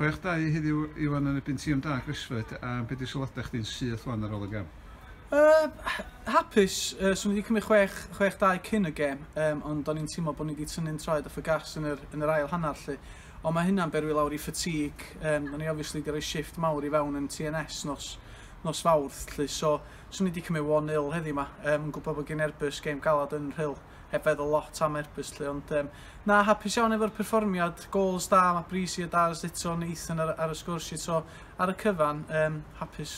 Chwech dau heddiw Iwan yn erbyn Tîm Da Cresford a be di sylwadau chdi'n syth wan ar ôl y gem? Yy hapus, yy so ni wedi cymryd chwech, chwech dau cyn y gem yym ond o'n i'n teimlo bod ni wedi tynnu'n traed off y gas yn yr yn yr ail hanner 'lly. Ond mae hynna'n berwi lawr i fatigue yym o'n ni obviously 'di rhoi shift mawr i fewn yn TNS nos nos Fawrth 'lly so so ni wedi cymryd one nil heddiw 'ma yym yn gwybod bod gen Airbus gem galad yn Rhyl. Heb feddwl lot am Erbus 'lly ond yym na hapus iawn efo'r perfformiad, gols da, ma' Breezy a Daz eto yn eithin ar ar y sgwrs 'lly so ar y cyfan yym hapus.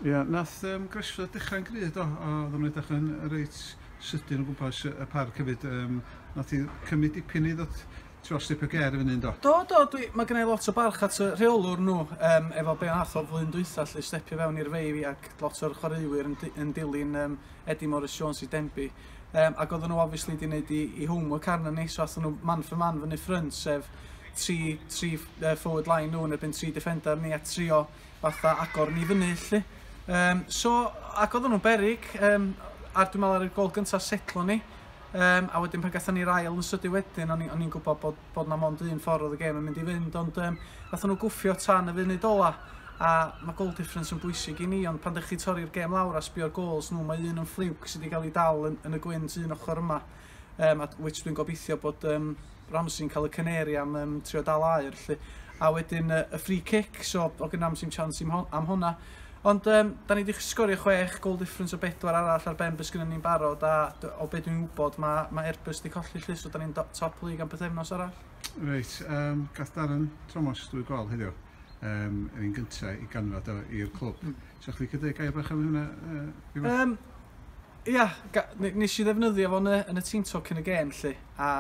Ia, nath yym Greshford dechra'n gry' do? A oddan nhw'n edrych yn reit sydyn o gwmpas y parc hefyd yym nath hi cymryd dipyn i ddod t'mo' step o ger i fyny yndo? Do do dwi ma' gynna i lot o barch at y rheolwr nhw yym efo be' nath o flwyddyn dwytha 'lly stepio fewn i'r fei fi ac lot o'r chwaraewyr yn d- yn dilyn yym Eddie Morris Jones i Denby. Yym ac oedden nhw obviously 'di neud 'u 'u homework arnon ni so athon nhw man for man fyny ffrynt sef tri tri ff- yy forward line nhw yn erbyn tri defender ni a trio fatha agor ni fyny 'lly. Yym so ac oedden nhw'n beryg yym a dwi me'wl ar y gol gynta setlo ni yym a wedyn pan gathon ni'r ail yn sydyn wedyn o'n i o'n i'n gwbod bod bod 'na mond un ffordd oedd y gêm yn mynd i fynd, ond um, nath nhw gwffio tan y funud ola, a mae goal difference yn bwysig i ni, ond pan ddech chi torri'r gêm lawr a sbio'r goals nhw, mae un yn ffliwc sydd wedi cael ei dal yn, yn y gwynt un ochr yma, um, at which dwi'n gobeithio bod um, Ramsey'n cael y cyneri am um, trio dal air, lle. A wedyn uh, y free kick, so o gynnam sy'n chance am hwnna, Ond um, da ni wedi sgorio chwech goal difference o bedwar arall ar ben beth sgynnon ni'n barod a o beth dwi'n wybod mae ma Airbus wedi colli llys so da ni'n top league am pethefnos arall. Reit, um, gath Darren Thomas drwy gol heddiw um, yn un gyntaf i ganfod o i'r clwb. Mm. So chdi cydau gair bach am hynna? Uh, um, ia, nes i ddefnyddio fo yn y, yn y team talk yn y gêm lle a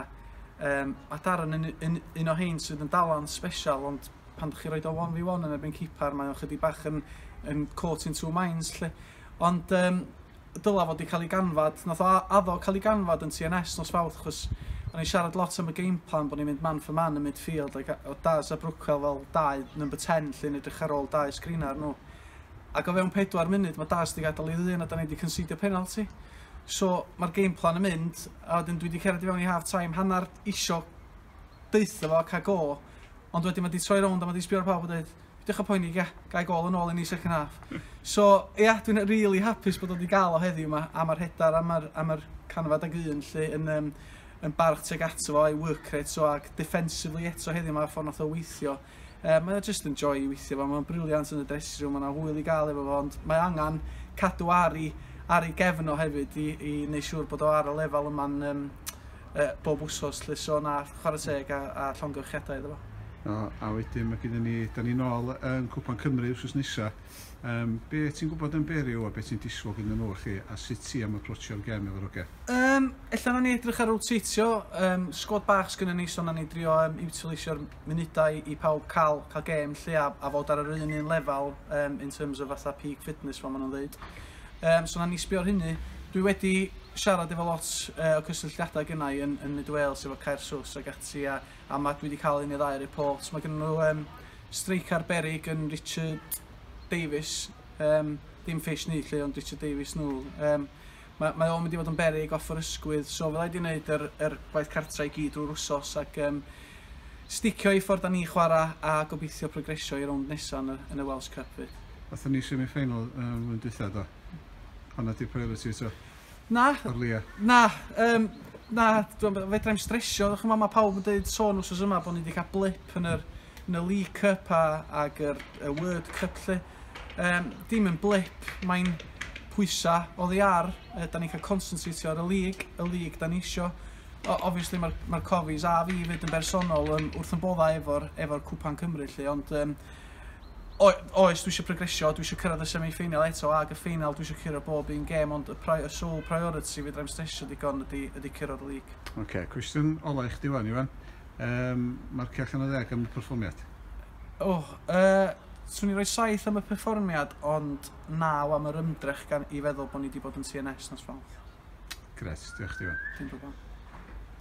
um, mae Darren yn, yn, un o hyn sydd yn dalan special ond pan ydych chi'n rhoi o 1v1 yn erbyn cipar, mae o'n chydig bach yn, yn caught in two minds lle. Ond um, dyla fod wedi cael ei ganfod, nath o addo cael ei ganfod yn TNS nos fawrth, chos o'n i'n siarad lot am y game plan, bod ni'n mynd man for man yn midfield, ac o Daz a Brookwell fel dau number 10 lle'n edrych ar ôl dau sgrin ar nhw. Ac o fewn 4 munud mae Daz wedi gadael ei ddyn a da ni wedi considio penalty. So mae'r game plan yn mynd, a wedyn dwi wedi cerdded i fewn i half time, hanner isio deutho fo ca go ond wedyn ma di troi rownd a ma di sbio ar pawb a deud peidiwch a poeni ga gai gol yn ôl i ni second half so ia dwi'n rili hapus bod o di gael o heddiw yma a ma rhedar a ma'r a ma'r canfad ag un lly yn yym yn barch tuag ato fo a'i work rate so ag defensively eto heddiw ma ffor nath o weithio Yy mae o jyst yn joy i weithio fo, mae o'n brilliant yn y dressing room, mae yna hwyl i gael efo fo, ond mae angen cadw ar i, ar i gefn o hefyd i, i neu siŵr bod o ar y lefel yma'n um, uh, bob wsos lle so na chwarae teg a, a llongyfrchiadau iddo fo. O, a wedyn mae gennym ni, da ni'n ôl yn Cwpan Cymru wrth nesa. Um, be ti'n gwybod yn Beriw a be ti'n disgwyl gyn nhw chi a sut ti am approachio'r gem efo'r oge? Um, Ella na ni edrych ar rotatio, um, sgwad bach sgynny ni, so na ni drio um, utilisio'r munudau i pawb cael cael gêm lle a, a fod ar yr un un lefel um, in terms of fatha peak fitness fel maen nhw'n dweud. Um, so na ni sbio ar hynny. Dwi wedi siarad efo lot uh, o cysylltiadau gynnau i yn, yn Mid Wales efo Caer Sws ac ati a, a mae dwi wedi cael un neu ddau report. Mae gen nhw um, streic ar berig yn Richard Davis, um, dim ffeis ni lle ond Richard Davis nhw. Um, Mae, mae o'n mynd i fod yn beryg off yr ysgwydd, so fydda i wedi wneud yr, yr gwaith cartra i gyd drwy'r wsos ac um, sticio i ffordd da ni chwarae a gobeithio progresio i rownd nesaf yn y, yn y Welsh Cup fyd. Athyn ni semi-final um, yn dwytha do? Pan na di priority eto? Na. Ar lia? Na. Um, na, fedra i'n stresio. Chymod, mae pawb yn dweud sôn wrth yma bod ni wedi cael blip yn yr, yn y League Cup a, ag yr, y Word Cup lle. Yym, dim yn blip, mae'n pwysa oddi ar, yy 'dan ni'n cael consentatio ar y lig, y lig 'dan ni isio. O- obviously ma'r ma'r cofis a fi 'fyd yn bersonol yn wrth 'yn bodda' efo'r efo'r cwpan Cymru 'lly ond yym o- oes dwi isio progresio dwi isio cyrraedd y semi ffeinal eto ag y ffeinal dwi isio curo bob un gêm ond y pri- y sole priority fedrai'm stresio digon ydi ydi curo'r lig. Ocê, cwestiwn ola i chdi 'wan Iwan. Yym, marcia allan o ddeg am y perfformiad. O, uh, swn i roi saith am y perfformiad, ond naw am yr ymdrech gan i feddwl bod ni wedi bod yn CNS nos Fawrth. Gret, diolch ti. Dim problem.